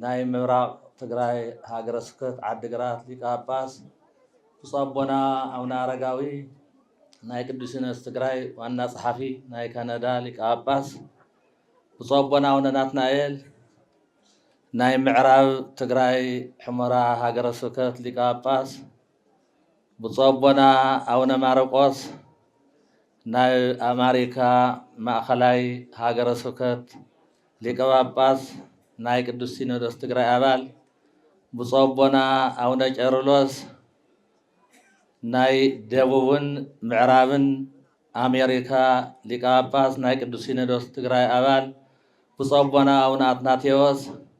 ናይ ምብራቕ ትግራይ ሃገረ ስብከት ዓዲ ግራት ሊቀ ጳጳስ ብፁዕ ኣቦና ኣቡነ ኣረጋዊ ናይ ቅዱስ ሲኖዶስ ትግራይ ዋና ጸሓፊ ናይ ካናዳ ሊቀ ጳጳስ ብፁዕ ኣቦና ኣቡነ ናትናኤል ናይ ምዕራብ ትግራይ ሑመራ ሃገረ ስብከት ሊቀ ጳጳስ ብፁዕ ኣቦና ኣውነ ማርቆስ ናይ ኣማሪካ ማእኸላይ ሃገረ ስብከት ሊቀ ጳጳስ ናይ ቅዱስ ሲኖዶስ ትግራይ ኣባል ብፁዕ ኣቦና ኣውነ ቄርሎስ ናይ ደቡብን ምዕራብን ኣሜሪካ ሊቀ ጳጳስ ናይ ቅዱስ ሲኖዶስ ትግራይ ኣባል ብፁዕ ኣቦና ኣውነ ኣትናቴዎስ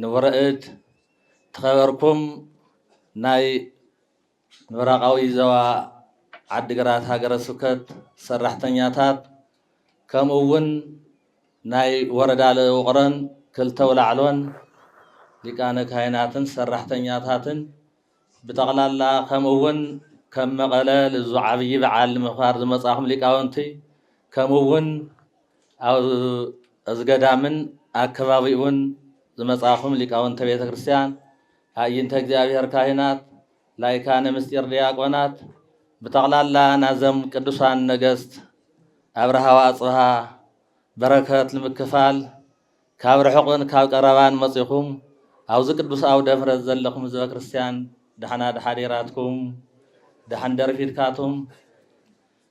ንውረእድ ትኸበርኩም ናይ ምብራቓዊ ዘዋ ዓዲግራት ሃገረ ስብከት ሰራሕተኛታት ከምኡ እውን ናይ ወረዳ ለውቕሮን ክልተ ውላዕሎን ሊቃነ ካህናትን ሰራሕተኛታትን ብጠቕላላ ከምኡ እውን ከም መቐለ ልዙ ዓብዪ በዓል ንምኽባር ዝመፃኹም ሊቃውንቲ ከምኡ እውን ኣብ እዚ ገዳምን ኣከባቢኡን ዝመፃኹም ሊቃውንተ ቤተ ክርስቲያን ኣእይንተ እግዚኣብሔር ካህናት ላይካነ ምስጢር ዲያቆናት ብጠቕላላ ናዘም ቅዱሳን ነገስት ኣብርሃ ወኣፅብሃ በረከት ንምክፋል ካብ ርሑቕን ካብ ቀረባን መጺኹም ኣብዚ ቅዱስ ኣውደ ምሕረት ዘለኹም ህዝበ ክርስቲያን ዳሕና ዳሓዲራትኩም ዳሕን ደርፊድካቱም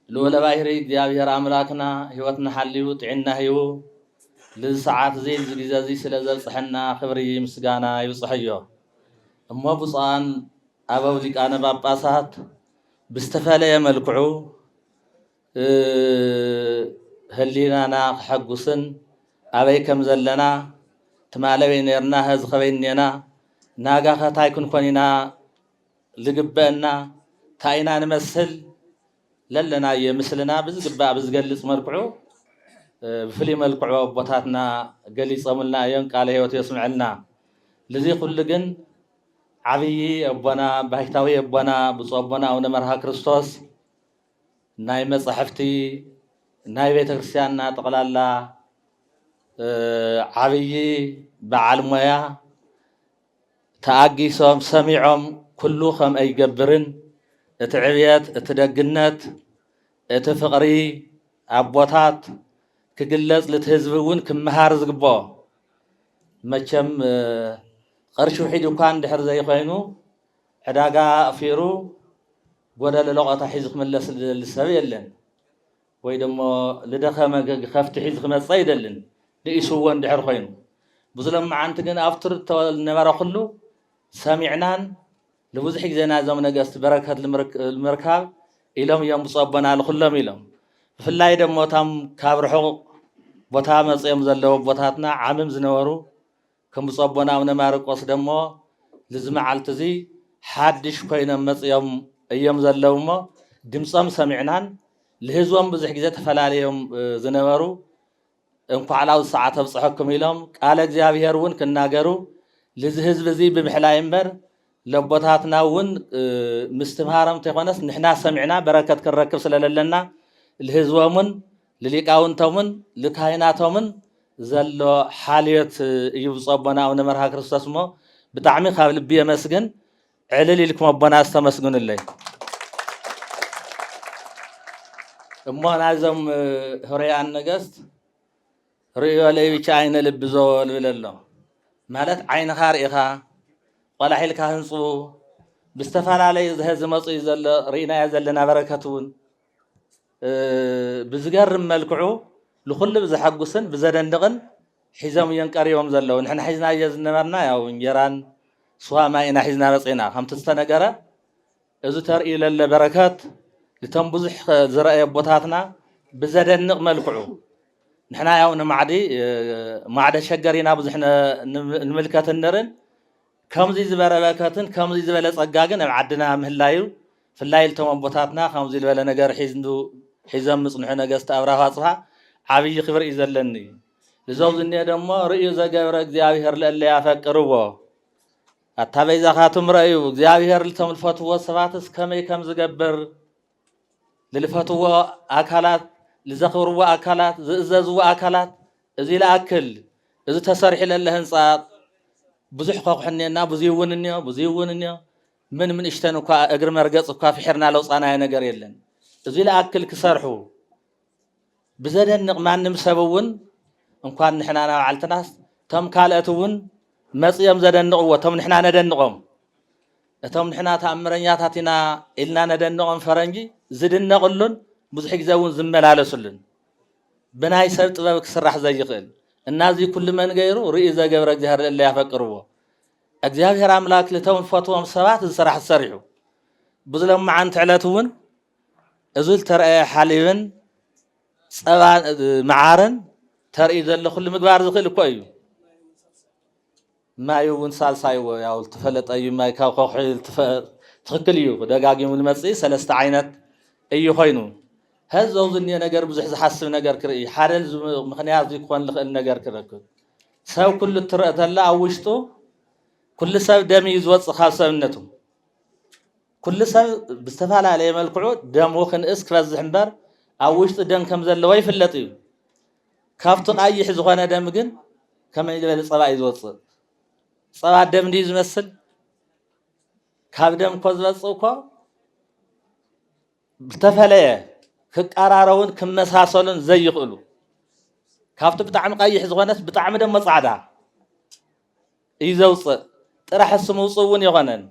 ልኡለ ባሕሪ እግዚኣብሔር ኣምላክና ሕይወትና ሓልዩ ጥዒና ሂቡ ልዚ ሰዓት እዚ ልዚ ግዜ እዚ ስለ ዘብጽሐና ክብሪ ምስጋና ይብጽሐዮ እሞ ብፁዓን ኣበው ሊቃነ ጳጳሳት ብዝተፈለየ መልክዑ ህሊናና ክሐጉስን ኣበይ ከም ዘለና ትማል ኣበይ ነርና ሀዚ ከበይ እኔና ናጋ ከ ታይ ክንኮን ኢና ልግበእና ታይ ኢና ንመስል ለለናዮ ምስልና ብዝግባእ ብዝገልፅ መልክዑ ብፍሉይ መልክዑ ኣቦታትና ገሊፆምልና እዮም ቃለ ህይወት የስምዐልና ልዚ ኩሉ ግን ዓብዪ ኣቦና ባይታዊ ኣቦና ብፁዕ ኣቦና ኣቡነ መርሃ ክርስቶስ ናይ መጻሕፍቲ ናይ ቤተ ክርስቲያንና ጠቕላላ ዓብዪ በዓል ሞያ ተኣጊሶም ሰሚዖም ኩሉ ከምአ ይገብርን እቲ ዕብየት እቲ ደግነት እቲ ፍቕሪ ኣቦታት ክግለጽ ልቲ ህዝቢ እውን ክመሃር ዝግብኦ መቸም ቐርሺ ውሒድ እኳ እንድሕር ዘይኮይኑ ዕዳጋ ኣቕፊሩ ጎደሎ ለቖታ ሒዙ ክምለስ ዝደሊ ሰብ የለን። ወይ ደሞ ዝደኸመ ከፍቲ ሒዙ ክመጽእ ኣይደልን፣ ንኢሱዎ እንድሕር ኮይኑ። ብዙ ሎምዓንቲ ግን ኣብ ትርቶ ዝነበረ ኩሉ ሰሚዕናን ንብዙሕ ግዜ ናይዞም ነገስት በረከት ልምርካብ ኢሎም እዮም ብፁዕ ኣቦና ልኩሎም ኢሎም። ብፍላይ ደሞ እቶም ካብ ርሑቕ ቦታ መጽዮም ዘለዉ ኣቦታትና ዓምም ዝነበሩ ከም ብፁዕ ኣቦና ኣቡነ ማርቆስ ደሞ ልዚ መዓልቲ እዚ ሓድሽ ኮይኖም መጺኦም እዮም ዘለዉ እሞ ድምጾም ሰሚዕናን ልህዝቦም ብዙሕ ግዜ ተፈላልዮም ዝነበሩ እንኳዕ ላብዚ ሰዓት ኣብጽሐኩም ኢሎም ቃለ እግዚኣብሔር እውን ክናገሩ ልዚ ህዝቢ እዚ ብምሕላይ እምበር ለቦታትና እውን ምስትምሃሮም ተይኮነስ ንሕና ሰሚዕና በረከት ክንረክብ ስለለለና ልህዝቦም እውን ልሊቃውንቶምን ልካህናቶምን ዘሎ ሓልዮት እዩ ብፁዕ ኣቦና ኣቡነ መርሃ ክርስቶስ እሞ ብጣዕሚ ካብ ልቢ የመስግን ዕልል ኢልኩም ኣቦና ዝተመስግኑለይ እሞ ናይዞም ህሩያን ነገስት ርእዮ ለይብቻ ዓይነ ልቢ ዘወል ብለሎ ማለት ዓይንኻ ርኢኻ ቆላሒልካ ህንፁ ብዝተፈላለዩ ዝሀ ዝመፁ እዩ ዘሎ ርኢናዮ ዘለና በረከት እውን ብዝገርም መልክዑ ንኹሉ ብዘሐጉስን ብዘደንቕን ሒዞም እዮም ቀሪቦም ዘለዉ ንሕና ሒዝናዮ ዝነበርና ያው እንጀራን ስዋ ማይ ኢና ሒዝና መፂና ከምቲ ዝተነገረ እዚ ተርእዩ ለለ በረከት ንቶም ብዙሕ ዝረኣየ ኣቦታትና ብዘደንቕ መልክዑ ንሕና ያው ንማዕዲ ማዕደ ሸገር ኢና ብዙሕ ንምልከት ንርን ከምዚ ዝበረ በረከትን ከምዚ ዝበለ ጸጋ ግን ኣብ ዓድና ምህላዩ ፍላይ ልቶም ኣቦታትና ከምዙይ ልበለ ነገር ሒዙ ሒዞም ምጽንሑ ነገስት ኣብራሁ ኣጽብሃ ዓብይ ክብር እዩ ዘለኒ ልዞም ዝኒኦ ደሞ ርእዩ ዘገብረ እግዚኣብሔር ልእለ ያፈቅርዎ ኣታ በይዛኻቱም ረእዩ እግዚኣብሔር ልቶም ልፈትዎ ሰባትስ ከመይ ከም ዝገብር ልልፈትዎ ኣካላት ልዘኽብርዎ ኣካላት ዝእዘዝዎ ኣካላት እዚ ልኣክል እዚ ተሰሪሑ ለለ ህንፃ ብዙሕ ከኩሕኔና ብዙይ እውን እኒኦ ብዙይ እውን እኒኦ ምንም ንእሽተን እኳ እግሪ መርገጽ እኳ ፍሒርና ለውጻናዮ ነገር የለን። እዙይ ልኣክል ክሰርሑ ብዘደንቕ ማንም ሰብ እውን እንኳን ንሕና ናባዓልትናስ እቶም ካልኦት እውን መጽኦም ዘደንቕዎ እቶም ንሕና ነደንቖም እቶም ንሕና ተኣምረኛታት ኢና ኢልና ነደንቖም ፈረንጂ ዝድነቕሉን ብዙሕ ግዜ እውን ዝመላለስሉን ብናይ ሰብ ጥበብ ክስራሕ ዘይኽእል እና እዙይ ኩሉ መን ገይሩ ርእዩ ዘገብረ እግዚኣብሔር ለለ ያፈቅርዎ እግዚኣብሔር ኣምላክ ንቶም ንፈትዎም ሰባት እዚ ስራሕ ዝሰሪሑ ብዚ ለማዓንቲ ዕለት እውን እዚ ዝተረኣየ ሓሊብን ፀባ መዓርን ተርኢ ዘሎ ኩሉ ምግባር ዝክእል እኮ እዩ ማይ እውን ሳልሳይ እዎ ያው ዝተፈለጠ እዩ ማይ ካብ ከውሒ ትክክል እዩ ደጋጊሙ ዝመፅእ ሰለስተ ዓይነት እዩ ኮይኑ ሀዚ ዘውዝ እኒኦ ነገር ብዙሕ ዝሓስብ ነገር ክርኢ ሓደ ምክንያት ዝኮን ዝክእል ነገር ክረክብ ሰብ ኩሉ እትረእ ተላ ኣብ ውሽጡ ኩሉ ሰብ ደም እዩ ዝወፅእ ካብ ሰብነቱ ኩሉ ሰብ ብዝተፈላለየ መልክዑ ደሙ ክንእስ ክበዝሕ እምበር ኣብ ውሽጡ ደም ከም ዘለዎ ይፍለጥ እዩ ካብቲ ቃይሕ ዝኾነ ደም ግን ከመይ ዝበለ ፀባ እዩ ዝወፅእ ፀባ ደም ድዩ ዝመስል ካብ ደም እኮ ዝበፅእ እኮ ዝተፈለየ ክቀራረቡን ክመሳሰሉን ዘይኽእሉ ካብቲ ብጣዕሚ ቀይሕ ዝኾነስ ብጣዕሚ ደሞ ፃዕዳ እዩ ዘውፅእ ጥራሕ እሱ ምውፅእ እውን የኾነን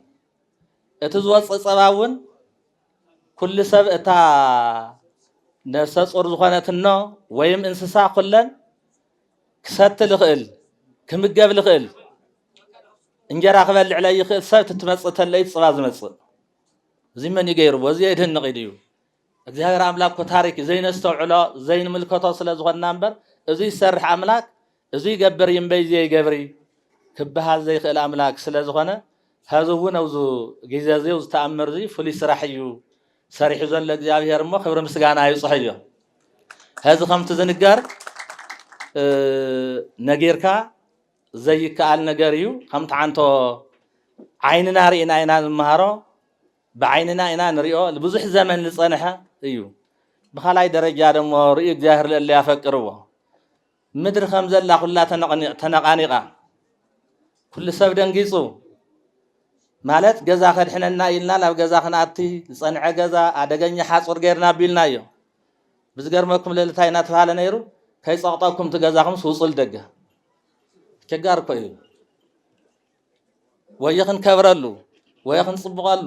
እቲ ዝወፅእ ፀባ እውን ኩሉ ሰብ እታ ነፍሰ ፁር ዝኾነት እኖ ወይም እንስሳ ኩለን ክሰቲ ልኽእል ክምገብ ልኽእል እንጀራ ክበልዕ ለይኽእል ሰብ ትትመፅእ ተለይ ፅባ ዝመፅእ እዚ መን እዩ ገይርዎ? እዚ የድንቕ ኢሉ እዩ። እግዚኣብሔር ኣምላክ እኮ ታሪክ እዩ ዘይነስተውዕሎ ዘይንምልከቶ ስለ ዝኾንና እምበር እዚ ዝሰርሕ ኣምላክ እዚ ይገብር እዩ እምበይ እዚ ይገብሪ ክበሃል ዘይክእል ኣምላክ ስለ ዝኾነ ሀዚ እውን ኣብዚ ግዜ እዚ እዚ ተኣምር እዚ ፍሉይ ስራሕ እዩ ሰሪሑ ዘሎ እግዚኣብሔር እሞ ክብሪ ምስጋና ይብፅሖ እዮ ሀዚ ከምቲ ዝንገር ነጊርካ ዘይከኣል ነገር እዩ ከም ትዓንቶ ዓይንና ርኢና ኢና ንመሃሮ ብዓይንና ኢና ንሪኦ ብዙሕ ዘመን ዝፀንሐ እዩ ብካልኣይ ደረጃ ደሞ ርእዩ እግዚኣብሔር ለእለ ያፈቅርዎ ምድሪ ከም ዘላ ኩላ ተነቃኒቃ ኩሉ ሰብ ደንጊፁ ማለት ገዛ ከድሕነና ኢልና ናብ ገዛ ክንኣቲ ዝፀንዐ ገዛ ኣደገኛ ሓፁር ገይርና ኣቢልና እዮ ብዝገርመኩም ልእልታይ እናተባሃለ ነይሩ ከይፀቕጠኩም ትገዛኹም ስውፁል ደገ ቸጋር እኮ እዩ ወይ ክንከብረሉ ወይ ክንፅብቐሉ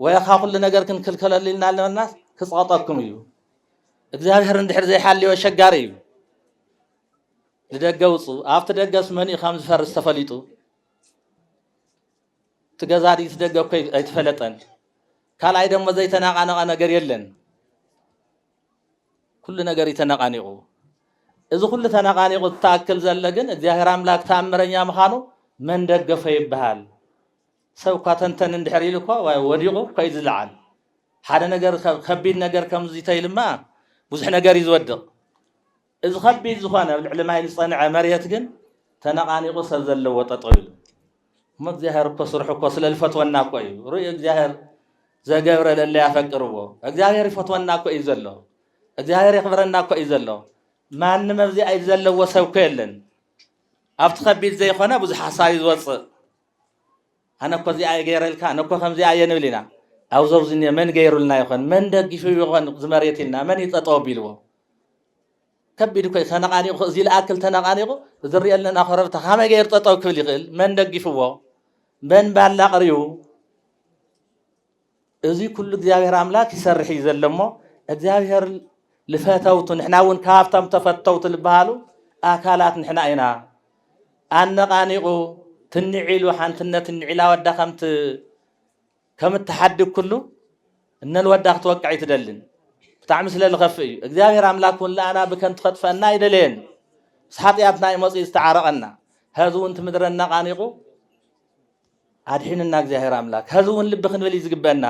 ወይ ካብ ኩሉ ነገር ክንክልከለሉ ኢልና ኣለናስ ክፅቐጠኩም እዩ እግዚኣብሔር እንድሕር ዘይሓልዮ ሸጋሪ እዩ ንደገ ውፁ ኣብቲ ደገስ መን እዩ ከም ዝፈርስ ተፈሊጡ እቲ ገዛ ድዩ እቲ ደገ እኮ ኣይተፈለጠን ካልኣይ ደሞ ዘይተናቃነቐ ነገር የለን ኩሉ ነገር እዩ ተነቓኒቑ። እዚ ኩሉ ተነቓኒቑ ትኣክል ዘለ ግን እግዚኣብሔር ኣምላክ ተኣምረኛ ምዃኑ መን ደገፎ ይበሃል። ሰብ እኳ ተንተን እንድሕር ኢሉ እኳ ወዲቑ እኳ እዩ ዝለዓል። ሓደ ነገር ከቢድ ነገር ከምዙይ ተይልማ ብዙሕ ነገር እዩ ዝወድቕ። እዚ ከቢድ ዝኾነ ኣብ ልዕሊ ማይ ዝጸንዐ መሬት ግን ተነቓኒቑ ሰብ ዘለዎ ጠጠው ኢሉ እሞ እግዚኣብሔር እኮ ስርሑ እኮ ስለ ዝፈትወና እኮ እዩ ርእዩ እግዚኣብሔር ዘገብረ ለለ ያፈቅርዎ እግዚኣብሔር ይፈትወና እኮ እዩ ዘሎ እግዚኣብሔር የኽብረና እኮ እዩ ዘሎ ማንም ኣብዚ ኣይ ዘለዎ ሰብ እኮ የለን ኣብቲ ከቢድ ዘይኮነ ብዙሕ ሓሳብ እዩ ዝወፅእ ኣነ እኮ እዚኣ እየ ገይረልካ፣ ኣነ እኮ ከምዚኣ እየ ንብል ኢና። ኣብዚ ኣብዚ እኒኦ መን ገይሩልና ይኾን፣ መን ደጊፉ ይኾን እዚ መሬት ኢልና፣ መን እዩ ጠጠው ኣቢልዎ? ከቢድ እኮ እዩ። ተነቓኒቑ እዚ ልኣክል ተነቓኒቑ እዚ ንሪኦ ኣለና ኮረብታ ከመይ ገይሩ ጠጠው ክብል ይኽእል? መን ደጊፍዎ? መን ባላ ኣቕሪቡ? እዙይ ኩሉ እግዚኣብሔር ኣምላክ ይሰርሕ እዩ ዘሎ እሞ እግዚኣብሔር ልፈተውቱ ንሕና እውን ካብቶም ተፈተውቱ ልበሃሉ ኣካላት ንሕና ኢና ኣነቃኒቁ ትንዒሉ ሓንትነት ንዒላ ወዳ ከምት ከምትሓድግ ኩሉ እነልወዳ ክትወቅዕ ኣይትደልን ብጣዕሚ ስለ ዝኸፍእ እዩ እግዚኣብሔር ኣምላክ እውን ለኣና ብከንቱ ከጥፈአና ኣይደለየን ምስ ሓጢኣትና እዩ መፅኡ ዝተዓረቐና ሀዚ እውን ትምድረ እናቃኒቁ ኣድሒንና እግዚኣብሔር ኣምላክ ሀዚ እውን ልቢ ክንብል እዩ ዝግበና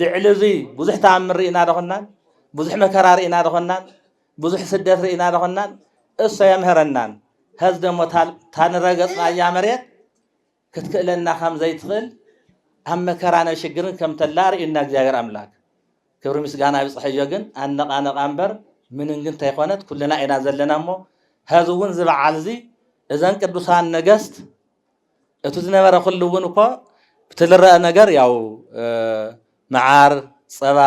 ልዕሊ እዚ ብዙሕ ተኣምር ርኢና ደኾናን ብዙሕ መከራ ርኢና ደኾናን ብዙሕ ስደት ርኢና ደኾናን እሶ የምህረናን ሀዚ ደሞ ታንረገፅናያ መሬት ክትክእለና ከም ዘይትኽእል ኣብ መከራን ኣብ ሽግርን ከም ተላ ርእዩና እግዚኣብሔር ኣምላክ ክብሪ ምስጋና ይብፅሐዮ ግን ኣነቓነቓ እምበር ምንም ግን ተይኮነት ኩልና ኢና ዘለና እሞ ሀዚ እውን እዚ በዓል እዚ እዘን ቅዱሳን ነገስት እቱ ዝነበረ ኩሉ እውን እኮ ብትልረአ ነገር ያው መዓር ፀባ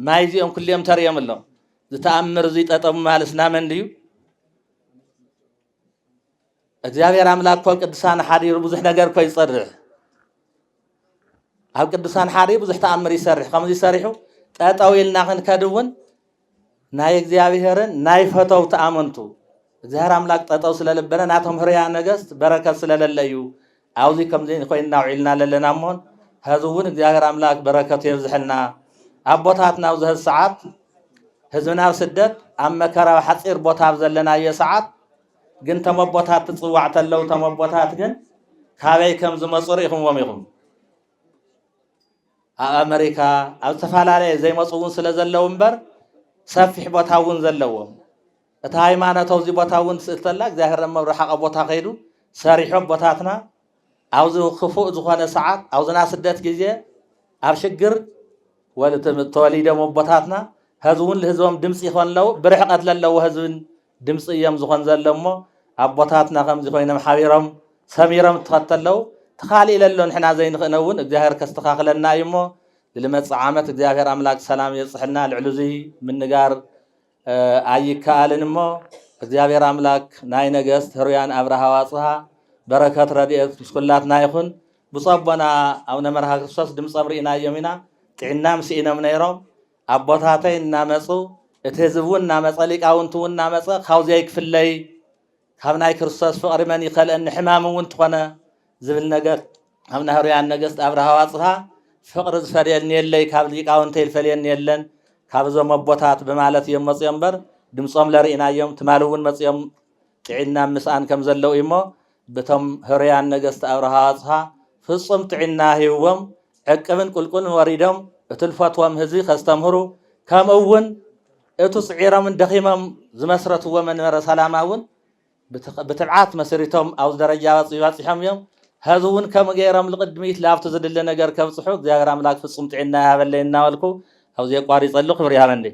ማይ እዚኦም ኩሉዮም ተርእዮም ኣሎም ዝተኣምር እዙይ ጠጠሙ ማለት ናመን ድዩ እግዚኣብሔር ኣምላክ እኮ ቅዱሳን ሓዲሩ ብዙሕ ነገር እኮ ይፀርሕ ኣብ ቅዱሳን ሓዲሩ ብዙሕ ተኣምር ይሰርሕ ከምዚ ሰሪሑ ጠጠው ኢልና ክንከድ እውን ናይ እግዚኣብሔርን ናይ ፈተውቲ ኣመንቱ እግዚኣብሔር ኣምላክ ጠጠው ስለልበለ ናቶም ህርያ ነገስት በረከት ስለለለዩ ኣብዚ ከምዚ ኮይንና ውዒልና ለለና እሞን ሀዚ እውን እግዚኣብሔር ኣምላክ በረከቱ የብዝሐልና ኣቦታትና ኣብዚ ሀዚ ሰዓት ህዝብና ኣብ ስደት ኣብ መከራ ኣብ ሓፂር ቦታ ኣብ ዘለናዮ ሰዓት ግን ተም ኣቦታት ትፅዋዕ ተለው ተም ኣቦታት ግን ካበይ ከም ዝመፁ ርኢኹምዎም ኢኹም ኣብ ኣመሪካ ኣብ ዝተፈላለየ ዘይመፁ እውን ስለ ዘለዉ እምበር ሰፊሕ ቦታ እውን ዘለዎም እቲ ሃይማኖት ኣብዚ ቦታ እውን ትስእል ተላ እግዚኣብሔር ኣብ መብርሓቐ ቦታ ከይዱ ሰሪሖ ቦታትና ኣብዚ ክፉእ ዝኾነ ሰዓት ኣብዝና ስደት ግዜ ኣብ ሽግር ወልትም ተወሊዶም ኣቦታትና ህዝቡን ልህዝቦም ድምፂ ይኾን ኣለዉ ብርሕቐት ለለዎ ህዝብን ድምፂ እዮም ዝኾን ዘሎ እሞ ኣቦታትና ከምዚ ኮይኖም ሓቢሮም ሰሚሮም እተኸተለው ትኻሊእ ለሎ ንሕና ዘይንኽእነ እውን እግዚኣብሔር ከስተኻኽለና እዩ እሞ ልመፅእ ዓመት እግዚኣብሔር ኣምላክ ሰላም የብፅሕልና ልዕሉ እዙይ ምንጋር ኣይከኣልን እሞ እግዚኣብሔር ኣምላክ ናይ ነገስት ህሩያን ኣብርሃ ዋፅሃ በረከት ረድኤት ምስ ኩላትና ይኹን ብፁዕ ኣቦና ኣቡነ መርሃ ክርስቶስ ድምፆም ርኢናዮም ኢና ጥዕናም ስኢኖም ነይሮም ኣቦታተይ እናመጹ፣ እቲ ህዝቢ'ውን እናመጸ፣ ሊቃውንቲ'ውን እናመጸ፣ ካብኡ ዘይክፍለይ ካብ ናይ ክርስቶስ ፍቕሪ መን ይከልእኒ፣ ሕማም'ውን እንተኾነ ዝብል ነገር ካብ ናይ ህሩያን ነገስት ኣብርሃ ዋጽሃ ፍቕሪ ዝፈልየኒ የለይ፣ ካብ ሊቃውንተይ ዝፈልየኒ የለን፣ ካብ እዞም ኣቦታት ብማለት እዮም መጺኦም'ምበር ድምጾም ለርኢናዮም፣ ትማሊ'ውን መጺኦም ጥዒናም ምስኣን ከም ዘለዉ እዩ'ሞ ብቶም ህሩያን ነገስት ኣብርሃ ኣጽሃ ፍጹም ጥዒና ሂብዎም ዕቅብን ቁልቁልን ወሪዶም እቱ ልፈትዎም ህዝቢ ከስተምህሩ ከምኡ ውን እቱ ጽዒሮምን ደኺሞም ዝመስረትዎ መንበረ ሰላማ ውን ብትብዓት መስሪቶም ኣብዚ ደረጃ በጺሖም እዮም ሀዚ ውን ከምኡ ገይሮም ልቕድሚት ላብቱ ዝድለ ነገር ከብጽሑ እግዚኣብሔር ኣምላክ ፍጹም ጥዒና ይሃበለይ እናበልኩ ኣብዚ የቋሪጸሉ ክብር ይሃበንልይ።